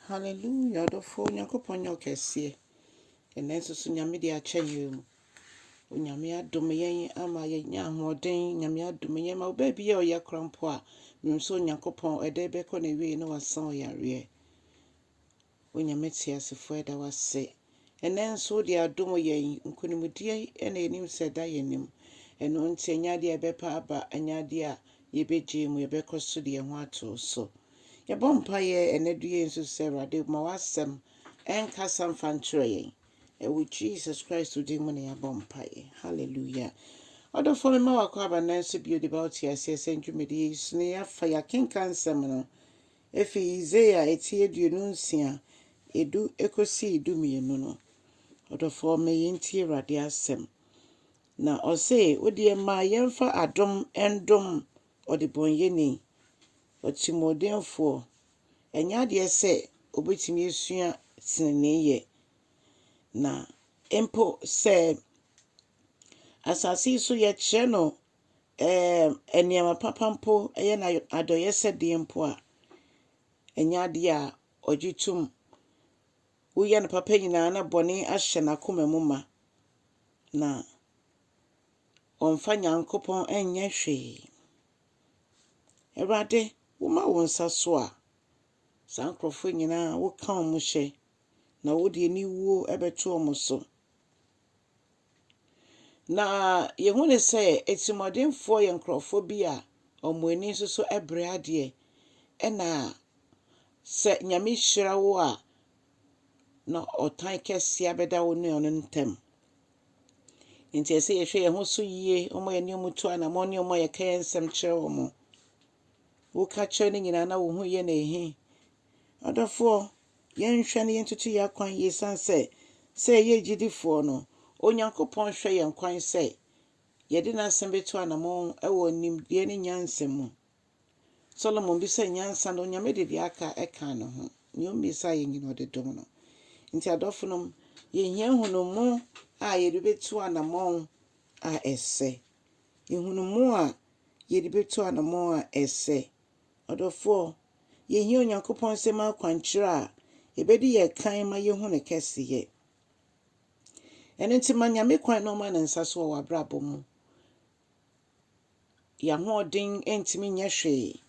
Hallelujah ɔdɔfoɔ Onyankopɔn nyɛ ɔkɛseɛ ɛnɛ nso so Nyame de akyɛ yɛ mu Onyame adom yɛn ama yɛnya ahoɔden Nyame adom yɛn ma wo baabi yɛ ɔyɛ kora mpo a menim sɛ Onyankopɔn ɛdɛ bɛkɔ na wie na wasan ɔyareɛ Onyame teasefoɔ ɛda wase Ɛnnɛ nso wode adom yɛn. Nkonimdie na yɛnim sɛ ɛda yɛn anim. Ɛno nti, ɛnyɛ adeɛ a yɛbɛpa aba, ɛnyɛ adeɛ a yɛbɛgyae mu, yɛbɛkɔ so de yɛn ho ato wo so. Yɛbɔ mpaeɛ ɛnnɛ duru yei nso sɛ, Awurade, ma w'asɛm nkasa mfa nkyerɛ yɛn. Ɛwɔ Jesus Christ din mu na yɛabɔ mpaeɛ. Hallelujah. Ɔdɔfoɔ, mema w'akwaaba nnɛ nso bio de ba wo te aseɛ sɛ ndwumadie yi so na yɛafa yɛakenkan nsɛm no. Efi Isaiah a etsi eduonu nsia a du ekosii du mienu no, ɔdɔfoɔ me yi ntie Awurade asɛm. Na ɔse, wo deɛ mma yɛmfa adom ndom ɔdebɔnyɛni, ɔtirimuɔdenfoɔ, ɛnyɛ adeɛ sɛ ɔbɛtumi asua tenenee yɛ, na mpo sɛ asase yi so yɛkyerɛ no Ɛɛ, nneɛma papa mpo, ɛyɛ no adɔeyɛsɛdeɛ mpo a, ɛnyɛ adeɛ a ɔgye tom. Woyɛ no papa nyinaa na bɔne ahyɛ n'akoma mu ma, na ɔmfa Nyankopɔn nyɛ hwee. Awurade, woma wo nsa so a, saa nkurɔfoɔ nyinaa woka wɔn hyɛ, na wode aniwuo bɛto wɔn so. Na yɛhu no sɛ atirimuɔdenfoɔ yɛ nkurɔfoɔ bi a wɔn ani nso so brɛ adeɛ. Ɛna sɛ Nyame hyira wo a, na ɔtan kɛseɛ abɛda wo ne ɔno ntam. Nti ɛsɛ sɛ yɛhwɛ yɛn ho so yie, wɔn a yɛne wɔn tu anammɔn ne wɔn a yɛka yɛn nsɛm kyerɛ wɔn. Woka kyerɛ no nyinaa na wo ho yɛ no ehe. Ɔdɔfoɔ, Yɛnhwɛ na yentutu yɛn akwan yie esiane sɛ sɛ yɛyɛ agyidifoɔ no, Onyankopɔn hwɛ yɛn kwan sɛ yɛde n'asɛm bɛtu anamɔn wɔ nimdeɛ ne nyansa mu. Solomon bisaa nyansa na Onyame de deɛ aka kaa ne ho. Nea ommisaa yɛn nyina ɔde dom no. Nti adɔfonom, yɛhia nhunumu a yɛde bɛtu anamɔn a ɛsɛ. Nhunumu a yɛde bɛtu anamɔn a ɛsɛ. Ɔdɔfoɔ, yɛhia Onyankopɔn nsɛm akwankyerɛ a ɛbɛdi yɛn kan ma yɛhu Ne kɛseyɛ. Ɛno nti ma Nyame kwan na ɔma Ne nsa so wɔ w'abrabɔ mu. Yɛn ahoɔden ntumi nyɛ hwee.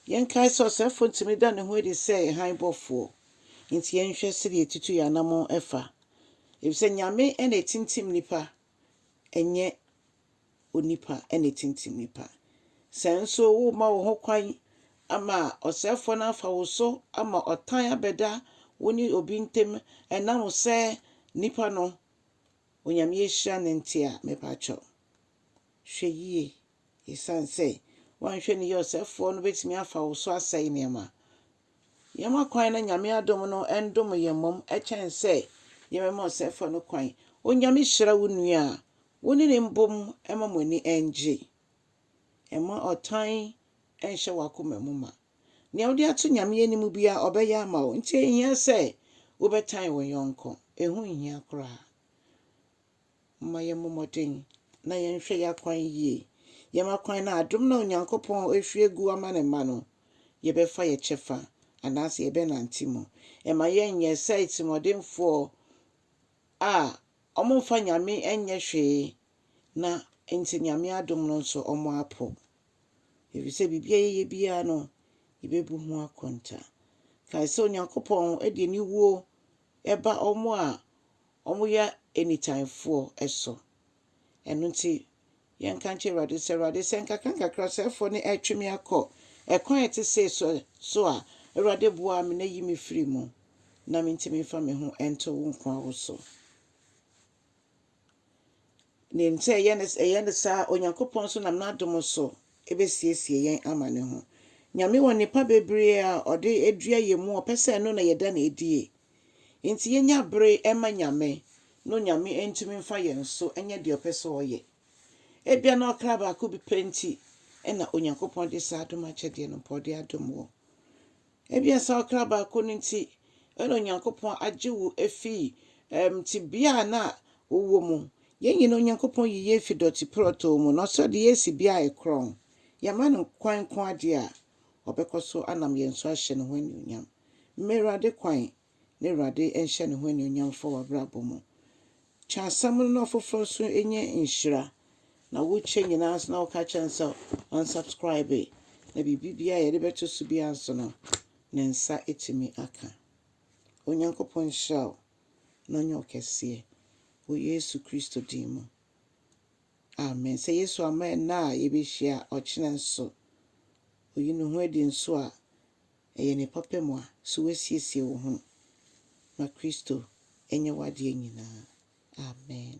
Yɛnkae sɛ ɔsɛefoɔ ntumi da ne ho adi sɛ hann bɔfoɔ. Enti yɛnhwɛ sɛdeɛ yɛtutu yɛn anammɔn fa. Ɛfiri sɛ Nyame na ɛtintim nnipa. ɛnyɛ onipa na etintim nnipa. Sɛ nso woma wo ho kwan ama ɔsɛefoɔ no afa wo so ama ɔtan abɛda wo ne obi ntam ɛnam sɛ nipa no Onyame ahyira no nti a, mepakyɛw hwɛ yie esiane sɛ woanhwɛ no yie ɔsɛefoɔ no bɛtumi afa wo so asɛe nneɛma. Yɛma kwan na Nyame adom no ndom yɛn mmom kyɛn sɛ yɛbɛma ɔsɛefo no kwan. Onyame hyira wo nua a wo ne no mbom ma mo ani ngye. Mma ɔtan nhyɛ w'akoma mu ma. Nea wode ato Nyame anim biara ɔbɛyɛ ama wo nti enhia sɛ wobɛtan wo yɔnko. Eho nhia koraa. Momma yɛmmɔ mmɔden na yɛnhwɛ yɛn akwan yie. Yɛn akwan no, adom no a Onyankopɔn ahwie agu ama ne mma no, yɛbɛfa yɛn kyɛfa anaasɛ yɛbɛnante mu. Ɛma yɛnyɛ sɛ atirimuɔdenfoɔ a wɔmfa Nyame nyɛ hwee na nti Nyame adom no nso wɔapo. Ɛfiri sɛ biribi a yɛyɛ biara no, yɛbɛbu ho akonta. Kae sɛ Onyankopɔn de aniwuo ba wɔn a Wɔyɛ anytime foɔ so. Ɛno nti yɛnka nkyerɛ Awurade sɛ, Awurade, sɛ nkakrankakra ɔsɛefoɔ no retwe me akɔ ɛkwan a ɛte sei so so a, Awurade boa me na yi me firi mu, na mentumi mfa me ho nto wo nkoa wo so. Nim sɛ ɛyɛ no saa a, Onyankopɔn nso nam n'adom so bɛsiesie yɛn ama ne ho. Nyame wɔ nnepa bebree a ɔde dua yɛn mu a ɔpɛ sɛ ɛno na yɛda no adie. Enti yɛnya bere ma Nyame no Nyame ntumi mfa yɛn so nyɛ deɛ ɔpɛ sɛ ɔyɛ. Ebia na ɔkra baako bi pɛ nti na Onyankopɔn de saa adom akyɛdeɛ no mpo ɔde adom wo. Ebia saa ɔkra baako no nti na Onyankopɔn agye wo afiri um, tebea a na wowɔ mu. Yɛn nyinaa Onyankopɔn yi yɛn fi dɔte prɔtoo mu na ɔsɛ ɔde yɛn si bea a ɛkorɔn. Yɛma no kwan nko adeɛ a, Ɔbɛkɔ so anam yɛn so ahyɛ ne ho anuonyam. Mma Awurade kwan na Awurade nhyɛ ne ho anuonyam mfa w'abrabɔ mu. Kyɛ asɛm no na ɔfoforɔ nso nyɛ nhyira. Na wokyɛ nyinaa nso na woka kyerɛ no sɛ ɔnsubscribe na biribi biara yɛde bɛto so biara nso no ne nsa tumi aka. Onyankopɔn nhyira wo na ɔnyɛ wo kɛseɛ wɔ Yesu Kristo din mu. Amen sɛ Yesu ama ɛnnɛ a yɛbɛhyia a ɔkyena nso ɔyi ne ho adi nso a ɛyɛ ne papa mu a so woasiesie wo ho ma Kristo nyɛ w'adeɛ nyinaa? Amen.